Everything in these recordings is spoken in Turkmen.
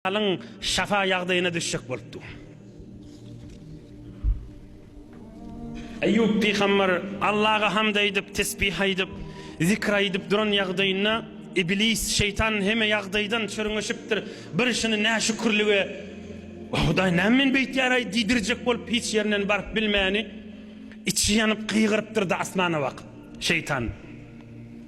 Alyň şafa ýagdaýyna düşjek bolupdy. Eýýup pygamber Allaha hamd aýdyp, tesbih aýdyp, zikr aýdyp duran ýagdaýynda Iblis, şeýtan heme ýagdaýdan çürňeşipdir. Bir şuny näşükürlige, Hudaý näme meni beýtýär-aý diýdirjek bolup hiç ýerinden baryp bilmäni, içi ýanyp gygyrypdyr-da asmana bakyp. Şeýtan.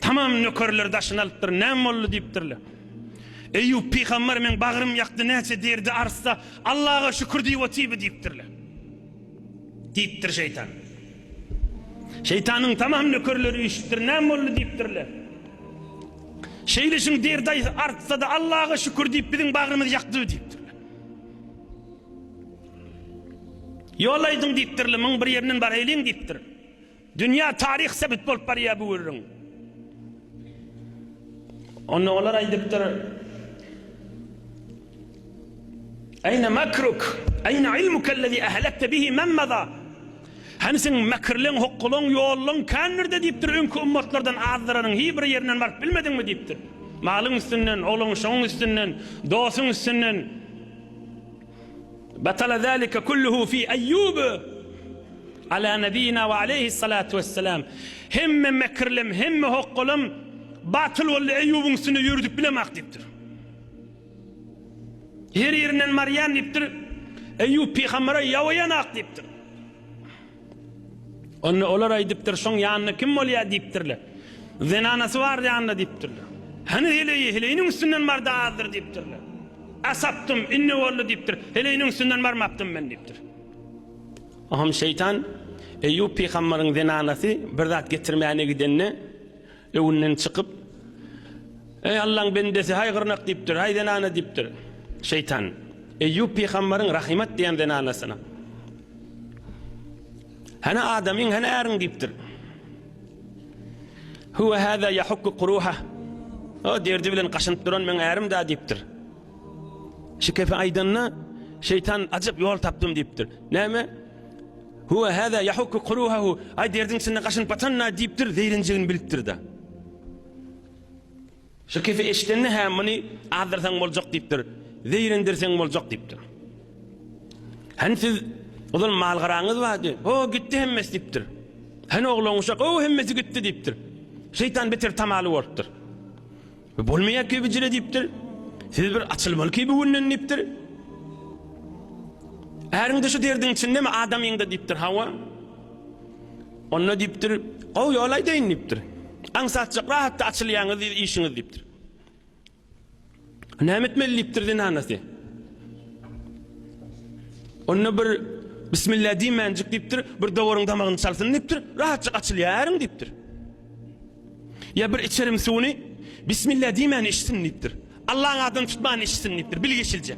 Tamam nökerleri daşyna alypdyr, Näme boldy diýipdirler. Eýýup pygamber meň bagrym ýakdy näçe derdi artsa Allaha şükür diýip otyby diýipdirler. Diýipdir şeýtan. Şeýtanyň tamam nökerleri üýşüpdir näme boldy diýipdirler. Şeýleşiň derdi artsa-da Allaha şükür diýip biziň bagrymyz ýakdy diýipdirler. Ýol aýdyň diýipdirler, muň bir ýerinden baraýlyň diýipdir. Dünýä taryh sebit bolup barýar bu gürrüň. Onda olar aýdypdyr, Aýna makruk, aýna ilmukellezî ahlakte bihi men maza, Hany seň mekirleň, hokgalaň, ýollaň kän nirde diýipdir, öňki ummatlardan azdyranyň hi bir ýerine baryp bilmediňmi diýipdir. Malyň üstünden, ogluň şoň üstünden, dosuň üstünden. Batala zalika kulluhu fi Eýýub ala nebiyina we aleýhi salatu wessalam. Hemme mekirlem, hemme hokgalam batyl boldy Eýýubyň üstünde ýöredip bilemak diýipdir. Her ýerinden marýan diýipdir. Eýýub pygambere ýawaýanak diýipdir. Onda olar aýdypdyr, Şoň ýanynda kim bolýar? diýipdirler. Zenanasy bar ýanynda diýipdirler. Hany heleýi, heleýiniň üstünden bardy azdyr diýipdirler. A sapdym, indi boldy diýipdir. Heleýiniň üstünden barmapdym men diýipdir. Oňam şeýtan Eýýup pygambaryň zenanasy bir zat getirmäne gidende, Öwünden çykyp, Eý, Allaň bendesi, haý gyrnak diýipdir, haý zenana diýipdir. Şeýtan, Eýýup pygambaryň Rahymat diýen zenanasyna, Hany adamyň, hany äriň diýipdir. Huwa hada yahukku quruha. O derdi bilen gaşynyp duran meň ärim da diýipdir. Şikefe aýdanda, Şeýtan ajyp ýol tapdym diýipdir. Näme? Huwa haza yahukku kuruhahu, aý derdiň içinde gaşynyp atan-da diýipdir, zeýrenjegini bilipdir-de. Şu kefi eşidende, hä muny azdyrsaň boljak diýipdir, zeýrendirseň boljak diýipdir. Hany siz ozal mal-garaňyz bardy, ho gitdi hemmesi diýipdir. Hany oglan-uşak, ho hemmesi gitdi diýipdir. Şeýtan beter tamaly bolupdyr. Bu bolmaýar kebijile diýipdir. Siz bir açylmaly ki bu günden diýipdir. Äriňde şu derdiň içindemi adamyňda diýipdir. Hawa. Onda diýipdir, gowy ýol aýdaýyn diýipdir. Aňsatjak rahatda açylýaňyz diýip işiňiz diýipdir. Näme etmeli diýipdir zenanasy. Onda bir Bismillah diýmänjik diýipdir, bir dowaryň damagyny çalsyn diýipdir, rahatjyk açylýar äriň diýipdir. Ýa bir içerim suwuny Bismillah diýmän içsin diýipdir. Allaň adyny tutman içsin diýipdir. Bilgeşilje.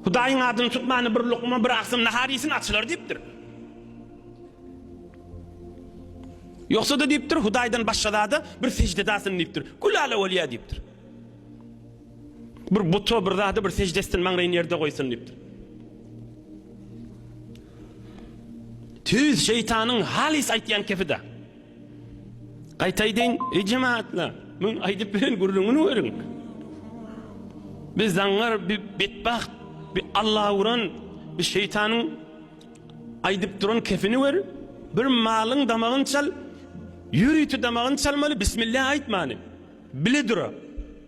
Hudaýyň adyny tutmany bir lukma bir aksym nahar iýsin açylar diýipdir. Ýogsa da diýipdir, Hudaýdan başga zada bir sežde dasyn diýipdir. Gülala bolýar diýipdir. Bir buta bir zada bir sejde etsin maňlaýyny ýerde goýsun diýipdir. Tüýs şeýtanyň halys aýtýan kepide. Gaýtaýdyn, ey jemaatlar, men aýdyp bilen gürrüňini görüň. Biz zaňňar bir betbagt, bir Alla uran, bir şeýtanyň aýdyp duran kepini gör. Bir malyň damagyny çal, ýörite damagyny çalmaly, bismillah aýtmany. Bile dura.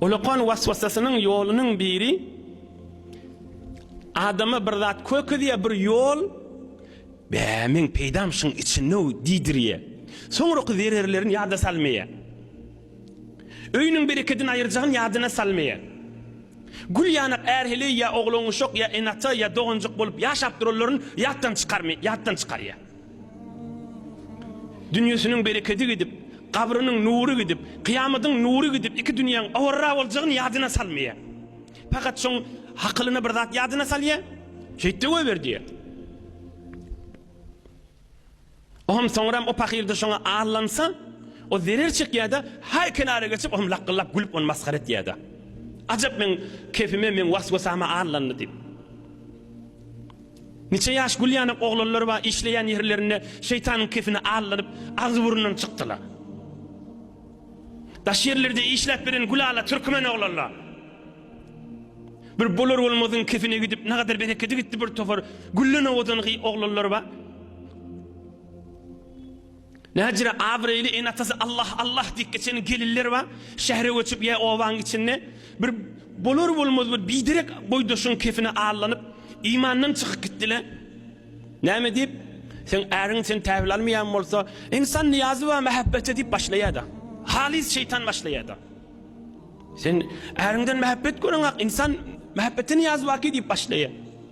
Ulukan waswasasynyň ýolunyň biri adama bir zat kökezýär, bir ýol, Bä, meň peýdam şuň içinde-ow diýdirýär. Soňraky zererlerini ýada salmaýar. Öýüniň berekedini aýyrjagyny ýadyna salmaýar. Gül ýanak är-heleý ýa oglanuşak ýa ene-ata ýa doganjyk bolup ýaşap duranlaryny ýatdan çykarmaýar, ýatdan çykarýar. Dünýesiniň berekedi gidip, gabrynyň nury gidip, kyýamadyň nury gidip, iki dünýäň awarra boljagyny ýadyna salmaýar. Pakat şoň hakylyna bir zat ýadyna salýar, Şeýt-de goýber diýýär. O hem soňram o pahyr-da şoňa allansa, o zerer çekýär-de, haý kenara geçip, o hem lakgyllap gülüp ony masgara etýär-de. Ajap meň kepime, meň was-wasama allandy diýip. Niçe ýaş gül ýanak oglanlar bar, işleýän ýerlerinde şeýtanyň kepini allanyp, agzy-burnundan çykdylar. Daş ýerlerde işläp beren gülala türkmen oglanlar. Bir bolar-bolmazyň kepine gidip, nagadar berekedi gitdi bir topar gülden owadangy oglanlar bar. Näçe-de abraýly ene-atasy Allah, Allah diýip geçen gelinler bar. Şähere göçüp ýa obanyň içinde bir bolar-bolmaz bir biderek boýdaşyň kefine allanyp, imandan çykyp gitdiler. Näme diýip, Seň äriň seni tabel almaýan bolsa, ynsan niýazy bar mähebbete diýip başlaýar-da. Halys şeýtan başlaýar-da. Sen äriňden mähebbet göreňak, ynsan mähebbete niýazy barki diýip başlaýar.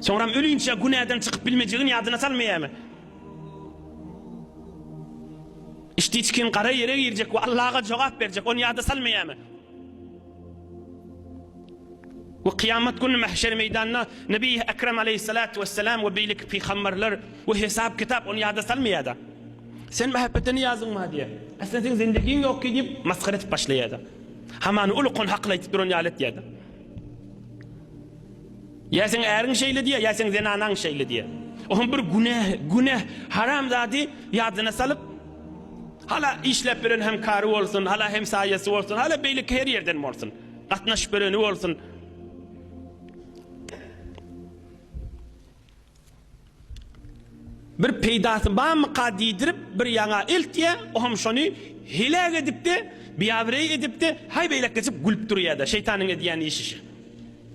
Soňram ölinçä günäden çykyp bilmejegini ýadyna salmaýarmy? Içdiçkin gara ýere girjek we Allaga jogap berjek, ony ýada salmaýarmy? We kyýamat güni mähşer meýdanynda Nebi Ekrem aleýhissalatu wessalam we beýleki pygamberler we hesap-kitap ony ýada salmaýar-da. Sen mähepetden ýazyň bar diýýär. Aslynda seň zendegiň ýok ki diýip masgara edip başlaýar-da. Hamany ulukan hakyly aýdyp duran ýaly etýär-de. Ýa seň äriň şeýle diýýär, ýa seň zenanaň şeýle diýýär. Oňam bir günäh, günäh, haram zady ýadyna salyp, hala işläp beren hem kary bolsun, hala hem saýasy bolsun, hala beýleki her ýerden bolsun. Gatnaşyp bereni bolsun. Bir peýdasy barmyka diýdirip bir ýaňa eltýä, o hem şony heläk edipdi, biabrey edipdi, haý beýlek geçip gülüp durýada, şeýtanyň edýän işişi.